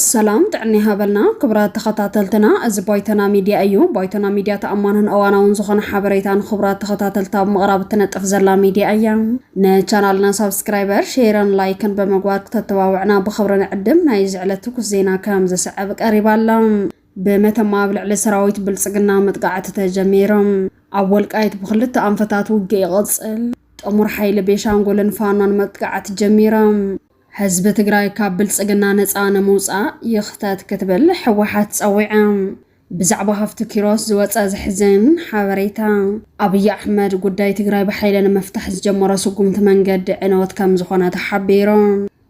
ሰላም ጥዕና ይሃበልና ክቡራት ተኸታተልትና፣ እዚ ባይቶና ሚድያ እዩ። ባይቶና ሚድያ ተኣማንን እዋናውን ዝኾነ ሓበሬታ ንክቡራት ተኸታተልታ ኣብ ምቕራብ እትነጥፍ ዘላ ሚድያ እያ። ንቻናልና ሳብስክራይበር፣ ሼርን ላይክን ብምግባር ክተተባብዕና ብኽብሪ ንዕድም። ናይ እዚ ዕለት ትኩስ ዜና ከም ዝስዕብ ቀሪባ ኣላ። ብመተማ ኣብ ልዕሊ ሰራዊት ብልፅግና መጥቃዕቲ ተጀሚርም። ኣብ ወልቃይት ብክልተ ኣንፈታት ውግእ ይቕፅል። ጥሙር ሓይሊ ቤሻንጉልን ፋኖን መጥቃዕቲ ጀሚርም። ህዝቢ ትግራይ ካብ ብልፅግና ነፃ ንምውፃእ ይኽተት ክትብል ህወሓት ፀዊዕም። ብዛዕባ ሃፍቱ ኪሮስ ዝወፀ ዘሕዝን ሓበሬታ። ኣብይ ኣሕመድ ጉዳይ ትግራይ ብሓይሊ ንምፍታሕ ዝጀመሮ ስጉምቲ መንገዲ ዕንወት ከምዝኾነ ተሓቢሩ።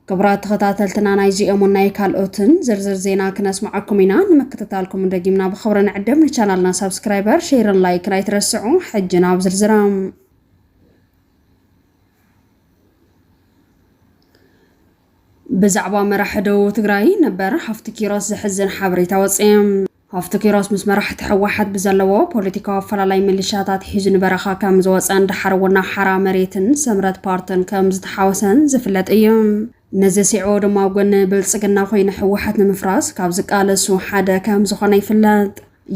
ክቡራት ተኸታተልትና ናይዚ እዮምን ናይ ካልኦትን ዝርዝር ዜና ክነስምዓኩም ኢና። ንምክትታልኩም ደጊምና ብኽብሪ ንዕድም። ንቻናልና ሳብስክራይበር፣ ሼርን ላይክን ኣይትረስዑ። ሕጂ ናብ ዝርዝራም ብዛዕባ መራሒ ደቡብ ትግራይ ነበር ሃፍቲ ኪሮስ ዘሕዝን ሓበሬታ ወፀ። ሃፍቱ ኪሮስ ምስ መራሕቲ ህወሓት ብዘለዎ ፖለቲካዊ ኣፈላላይ ሚሊሻታት ሒዙ ንበረኻ ከም ዝወፀን ደሓር እውን ናብ ሓራ መሬትን ስምረት ፓርትን ከም ዝተሓወሰን ዝፍለጥ እዩ። ነዚ ስዒቡ ድማ ኣብ ጎኒ ብልፅግና ኮይኑ ህወሓት ንምፍራስ ካብ ዝቃለሱ ሓደ ከም ዝኾነ ይፍለጥ።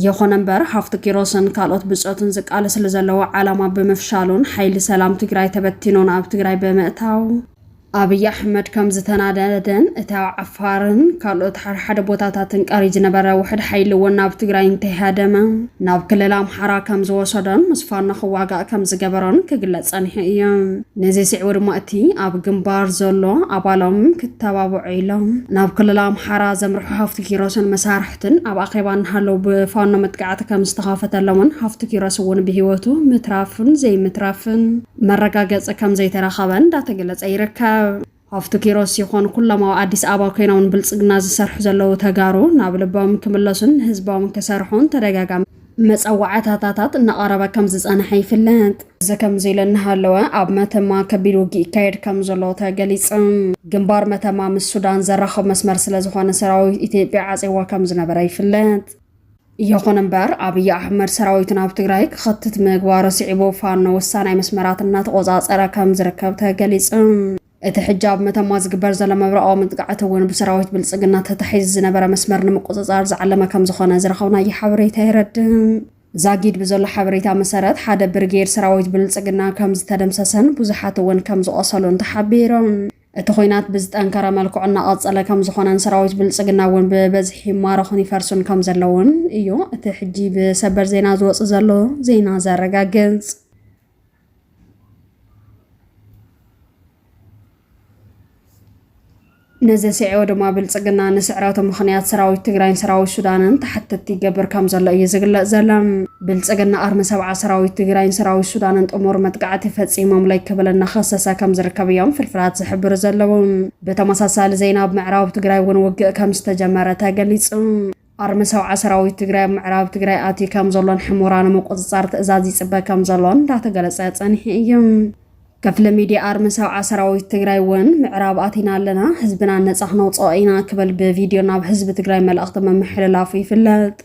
ይኹን እምበር ሃፍቱ ኪሮስን ካልኦት ብፆቱን ዝቃለስሉ ዘለዎ ዓላማ ብምፍሻሉን ሓይሊ ሰላም ትግራይ ተበቲኑን ኣብ ትግራይ ብምእታው፣ ኣብይ ኣሕመድ ከም ዝተናደደን እቲ ኣብ ዓፋርን ካልኦት ሓደ ሓደ ቦታታትን ቀርዩ ዝነበረ ውሕድ ሓይሊ እውን ናብ ትግራይ እንተይሃደመ ናብ ክልል ኣምሓራ ከም ዝወሰዶን ምስ ፋኖ ክዋጋእ ከም ዝገበሮን ክግለጽ ጸኒሑ እዩ። ነዚ ስዒቡ ድማ እቲ ኣብ ግንባር ዘሎ ኣባሎም ክተባብዑ ኢሎም ናብ ክልል ኣምሓራ ዘምርሑ ሃፍቱ ኪሮስን መሳርሕቱን ኣብ ኣኼባ እናሃለዉ ብፋኖ መጥቃዕቲ ከም ዝተኸፈተሎምን ሃፍቱ ኪሮስ እውን ብህይወቱ ምትራፍን ዘይምትራፍን መረጋገፂ ከምዘይተረኸበ እንዳተገለፀ ይርከብ። ሃፍቱ ኪሮስ ይኹን ኩሎም ኣብ ኣዲስ ኣበባ ኮይኖም ንብልፅግና ዝሰርሑ ዘለዉ ተጋሩ ናብ ልቦም ክምለሱን ንህዝቦም ክሰርሑን ተደጋጋሚ መፀዋዕታታታት እናቐረበ ከምዝፀንሐ ይፍለጥ። እዚ ከምዚ ኢሉ እናሃለወ ኣብ መተማ ከቢድ ውግእ ይካየድ ከምዘሎ ተገሊፁ። ግንባር መተማ ምስ ሱዳን ዘራኽብ መስመር ስለዝኾነ ሰራዊት ኢትዮጵያ ዓፅይዎ ከምዝነበረ ይፍለጥ። ይኹን እምበር ኣብይ ኣሕመድ ሰራዊቱ ናብ ትግራይ ክኸትት ምግባሩ ስዒቡ ፋኖ ወሳናይ መስመራት እናተቖፃፀረ ከም ዝርከብ ተገሊፁ። እቲ ሕጂ ኣብ መተማ ዝግበር ዘሎ መብረቓዊ መጥቃዕቲ እውን ብሰራዊት ብልፅግና ተታሒዙ ዝነበረ መስመር ንምቁፅፃር ዝዓለመ ከም ዝኾነ ዝረኸብናዮ ሓበሬታ የረድእ። ዛጊድ ብዘሎ ሓበሬታ መሰረት ሓደ ብርጌድ ሰራዊት ብልፅግና ከም ዝተደምሰሰን ብዙሓት እውን ከም ዝቖሰሉን ተሓቢሩ። እቲ ኹናት ብዝጠንከረ መልክዑ እናቐፀለ ከምዝኾነን ሰራዊት ብልፅግና እውን ብበዝሒ ይማረኹን ይፈርሱን ከምዘለውን እዩ እቲ ሕጂ ብሰበር ዜና ዝወፅ ዘሎ ዜና ዘረጋግፅ። ነዚ ስዒቡ ድማ ብልፅግና ንስዕረቱ ምኽንያት ሰራዊት ትግራይን ሰራዊት ሱዳንን ተሓተቲ ይገብር ከምዘሎ እዩ ዝግለፅ ዘሎ። ብልፅግና ኣርሚ ሰብዓ ሰራዊት ትግራይን ሰራዊት ሱዳንን ጥሙር መጥቃዕቲ ፈፂሞምለይ ክብል እናኸሰሰ ከምዝርከብ እዮም ፍርፍራት ዝሕብሩ ዘለዉ። ብተመሳሳሊ ዜና ኣብ ምዕራብ ትግራይ እውን ውግእ ከምዝተጀመረ ተገሊፁ። ኣርሚ ሰብዓ ሰራዊት ትግራይ ኣብ ምዕራብ ትግራይ ኣትዩ ከምዘሎን ሕሞራ ንምቁፅፃር ትእዛዝ ይፅበ ከምዘሎን እንዳተገለፀ ፀኒሑ እዩ። ክፍሊ ሚድያ ኣርሚ ሰብዓ ሰራዊት ትግራይ እውን ምዕራብ ኣቲና ኣለና፣ ህዝብና ነፃ ክነውፅኦ ኢና ክብል ብቪድዮ ናብ ህዝቢ ትግራይ መልእኽቲ ምምሕልላፉ ይፍለጥ።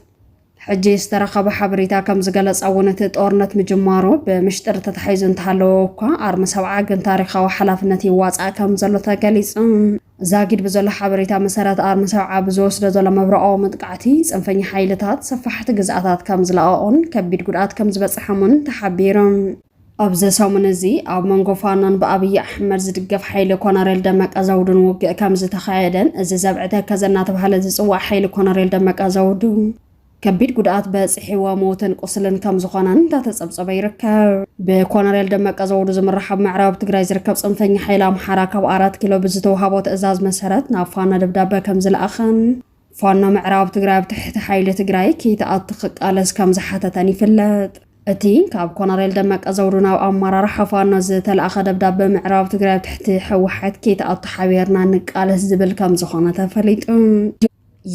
ሕጂ ዝተረኸበ ሓበሬታ ከም ዝገለጸ እውን እቲ ጦርነት ምጅማሩ ብምሽጥር ተታሒዙ እንተሃለወ እኳ ኣርሚ ሰብዓ ግን ታሪኻዊ ሓላፍነት ይዋጻእ ከም ዘሎ ተገሊጹ። ዛጊድ ብዘሎ ሓበሬታ መሰረት ኣርሚ ሰብዓ ብዝወስዶ ዘሎ መብረቓዊ መጥቃዕቲ ጽንፈኛ ሓይልታት ሰፋሕቲ ግዝኣታት ከም ዝለቐቑን ከቢድ ጉድኣት ከም ዝበጽሐሙን ተሓቢሩ። ኣብዚ ሰሙን እዚ ኣብ መንጎ ፋኖን ብኣብዪ ኣሕመድ ዝድገፍ ሓይሊ ኮነሬል ደመቀ ዘውዱን ውግእ ከምዝተኻየደን እዚ ዘብዒ ተከዘ እናተብሃለ ዝፅዋዕ ሓይሊ ኮነሬል ደመቀ ዘውዱ ከቢድ ጉድኣት በፂሕዎ ሞትን ቁስልን ከምዝኾነን እንዳተፀብፀበ ይርከብ። ብኮነሬል ደመቀ ዘውዱ ዝምራሕ ኣብ ምዕራብ ትግራይ ዝርከብ ፅንፈኛ ሓይሊ ኣምሓራ ካብ ኣራት ኪሎ ብዝተውሃቦ ትእዛዝ መሰረት ናብ ፋኖ ደብዳበ ከምዝለኣኸን ፋኖ ምዕራብ ትግራይ ኣብ ትሕቲ ሓይሊ ትግራይ ከይትኣቲ ክቃለስ ከም ዝሓተተን ይፍለጥ። እቲ ካብ ኮነሬል ደመቀ ዘውዱ ናብ ኣመራርሓ ፋኖ ዝተላእኸ ደብዳበ ምዕራብ ትግራይ ኣብ ትሕቲ ህወሓት ከይትኣቱ ሓቢርና ንቃለስ ዝብል ከም ዝኾነ ተፈሊጡ።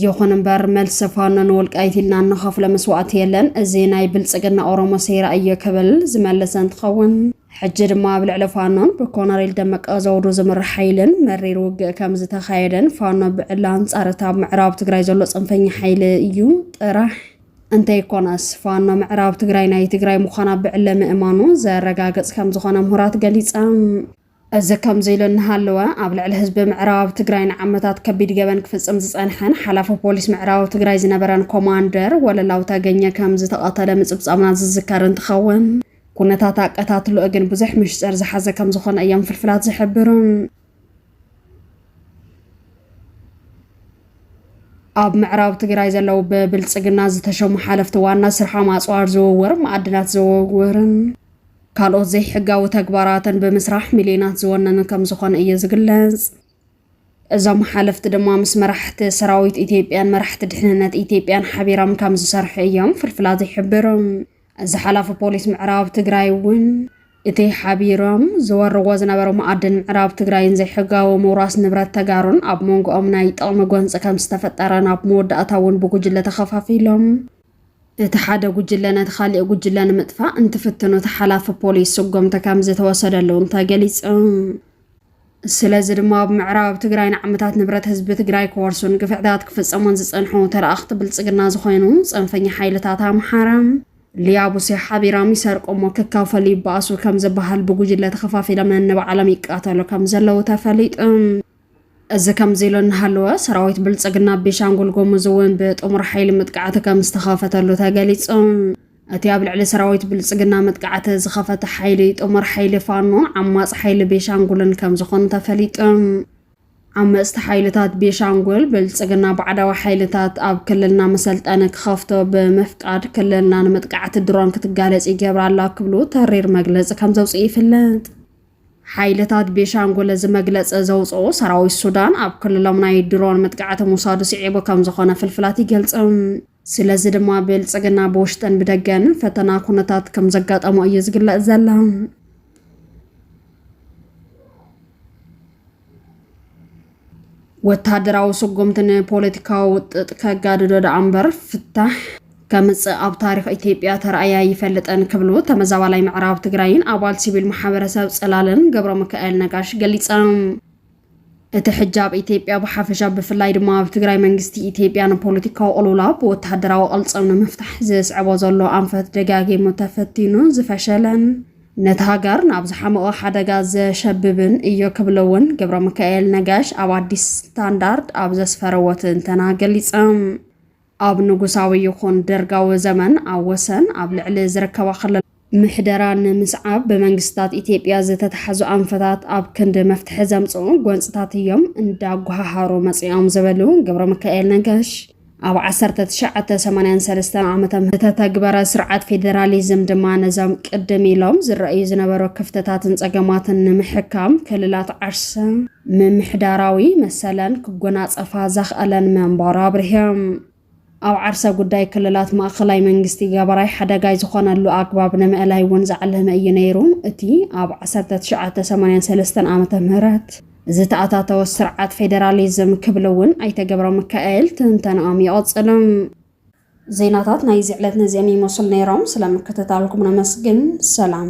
ይኹን እምበር መልሲ ፋኖ ንወልቃይት ኢልና እንኸፍሎ መስዋእቲ የለን፣ እዚ ናይ ብልፅግና ኦሮሞ ሴራ እዮ ክብል ዝመለሰ እንትኸውን፣ ሕጂ ድማ ኣብ ልዕሊ ፋኖን ብኮነሬል ደመቀ ዘውዱ ዝምራሕ ሓይልን መሪር ውግእ ከም ዝተኻየደን ፋኖ ብዕሊ ኣንጻር እታ ኣብ ምዕራብ ትግራይ ዘሎ ጽንፈኛ ሓይሊ እዩ ጥራሕ እንተይኮነስ ፋኖ ምዕራብ ትግራይ ናይ ትግራይ ምዃና ብዕለ ምእማኑ ዘረጋግጽ ከም ዝኾነ ምሁራት ገሊጸም። እዚ ከምዚ ኢሉ እናሃለወ ኣብ ልዕሊ ህዝቢ ምዕራብ ትግራይ ንዓመታት ከቢድ ገበን ክፍጽም ዝጸንሐን ሓላፊ ፖሊስ ምዕራብ ትግራይ ዝነበረን ኮማንደር ወለላው ተገኘ ከም ዝተቐተለ ምጽብጻብና ዝዝከር እንትኸውን ኩነታት ኣቀታትሎኡ ግን ብዙሕ ምሽጥር ዝሓዘ ከም ዝኾነ እዮም ፍልፍላት ዝሕብሩ። ኣብ ምዕራብ ትግራይ ዘለዉ ብብልፅግና ዝተሸሙ ሓለፍቲ ዋና ስርሖም ኣፅዋር ዝውውር፣ ማዕድናት ዝውውርን ካልኦት ዘይሕጋዊ ተግባራትን ብምስራሕ ሚሊዮናት ዝወነኑ ከም ዝኾነ እዩ ዝግለጽ። እዞም ሓለፍቲ ድማ ምስ መራሕቲ ሰራዊት ኢትዮጵያን መራሕቲ ድሕንነት ኢትዮጵያን ሓቢሮም ከም ዝሰርሑ እዮም ፍልፍላት ይሕብሩ። ዝሓላፉ ፖሊስ ምዕራብ ትግራይ እውን እቲ ሓቢሮም ዝወርዎ ዝነበሩ መኣድን ምዕራብ ትግራይን ዘይሕጋዊ ምውራስ ንብረት ተጋሩን ኣብ መንጎኦም ናይ ጥቕሚ ጎንፂ ከም ዝተፈጠረ ናብ መወዳእታ እውን ብጉጅለ ተኸፋፊሎም እቲ ሓደ ጉጅለ ነቲ ካሊእ ጉጅለ ንምጥፋእ እንትፍትኑ እቲ ሓላፊ ፖሊስ ስጎምቲ ከም ዝተወሰደሉ እውን ተገሊፁ። ስለዚ ድማ ኣብ ምዕራብ ትግራይ ንዓመታት ንብረት ህዝቢ ትግራይ ክወርሱን ግፍዕታት ክፍፀሙን ዝፀንሑ ተለኣኽቲ ብልፅግና ዝኾኑ ፀንፈኛ ሓይልታት ኣምሓራ ሊያቡሴ ሓቢራም ይሰርቁ እሞ ክካፈሉ ይበኣሱ ከም ዝበሃል ብጉጅለ ተኸፋፊሎም ነንባዕሎም ይቃተሉ ከም ዘለዉ ተፈሊጡ። እዚ ከምዚ ኢሉ እናሃለወ ሰራዊት ብልፅግና ኣብ ቤሻንጉል ጉሙዝ እውን ብጥሙር ሓይሊ መጥቃዕቲ ከም ዝተኸፈተሉ ተገሊፁ። እቲ ኣብ ልዕሊ ሰራዊት ብልፅግና መጥቃዕቲ ዝኸፈተ ሓይሊ ጥሙር ሓይሊ ፋኖን ዓማፅ ሓይሊ ቤሻንጉልን ከም ዝኾኑ ተፈሊጡ። ዓመፅቲ ሓይልታት ቤሻንጉል ብልፅግና ባዕዳዊ ሓይልታት ኣብ ክልልና መሰልጠኒ ክኸፍቶ ብምፍቃድ ክልልና ንመጥቃዕቲ ድሮን ክትጋለፅ ይገብራ ኣላ ክብሉ ተሪር መግለፂ ከም ዘውፅኡ ይፍለጥ። ሓይልታት ቤሻንጉል እዚ መግለፂ ዘውፅኡ ሰራዊት ሱዳን ኣብ ክልሎም ናይ ድሮን መጥቃዕቲ ምውሳዱ ስዒቡ ከምዝኾነ ፍልፍላት ይገልፁ። ስለዚ ድማ ብልፅግና ብውሽጥን ብደገን ፈተና ኩነታት ከምዘጋጠሞ እዩ ዝግለፅ ዘሎ። ወታደራዊ ስጉምቲ ንፖለቲካዊ ውጥጥ ከጋድዶ ደኣ እምበር ፍታሕ ከምፅእ ኣብ ታሪክ ኢትዮጵያ ተራእያ ይፈልጠን ክብሉ ተመዛባላይ ምዕራብ ትግራይን ኣባል ሲቪል ማሕበረሰብ ፅላልን ገብረ ሚካኤል ነጋሽ ገሊፆም። እቲ ሕጂ ኣብ ኢትዮጵያ ብሓፈሻ ብፍላይ ድማ ኣብ ትግራይ መንግስቲ ኢትዮጵያ ንፖለቲካዊ ቅልውላ ብወተሃደራዊ ቅልፅም ንምፍታሕ ዘስዕቦ ዘሎ ኣንፈት ደጋጊሙ ተፈቲኑ ዝፈሸለን ነቲ ሃገር ናብ ዝሓመቖ ሓደጋ ዘሸብብን እዩ ክብሉ እውን ገብረሚካኤል ነጋሽ ኣብ ኣዲስ ስታንዳርድ ኣብ ዘስፈረዎ ትንተና ገሊጾም። ኣብ ንጉሳዊ ይኹን ደርጋዊ ዘመን ኣብ ወሰን ኣብ ልዕሊ ዝርከባ ክልላት፣ ምሕደራ ንምስዓብ ብመንግስታት ኢትዮጵያ ዝተታሕዙ ኣንፈታት ኣብ ክንዲ መፍትሒ ዘምጽኡ ጎንጽታት እዮም እንዳጎሃሃሩ መጺኦም ዝበሉ ገብረሚካኤል ነጋሽ፣ ኣብ ዓሰርተ ትሽዓተ ሰማንያን ሰለስተን ዓመተ ምህረት ዝተተግበረ ስርዓት ፌዴራሊዝም ድማ ነዞም ቅድም ኢሎም ዝረኣዩ ዝነበሩ ክፍተታትን ጸገማትን ንምሕካም ክልላት ዓርሰ ምምሕዳራዊ መሰለን ክጎናጸፋ ዘኽኣለን ምንባሩ ኣብሪሆም። ኣብ ዓርሰ ጉዳይ ክልላት ማእኸላይ መንግስቲ ገበራይ ሓደጋይ ዝኾነሉ ኣግባብ ንምእላይ እውን ዝዓለመ እዩ ነይሩ እቲ ኣብ ዓሰርተ ትሽዓተ ሰማንያን ሰለስተን ዓመተ ምህረት ዝተኣታተወ ስርዓት ፌደራሊዝም ክብሉ እውን ኣይተ ገብረ ሚካኤል ትንተናኦም ይቕጽሉ። ዜናታት ናይዚ ዕለት ነዚኦም ይመስሉ ነይሮም። ስለምክትታልኩም ነመስግን። ሰላም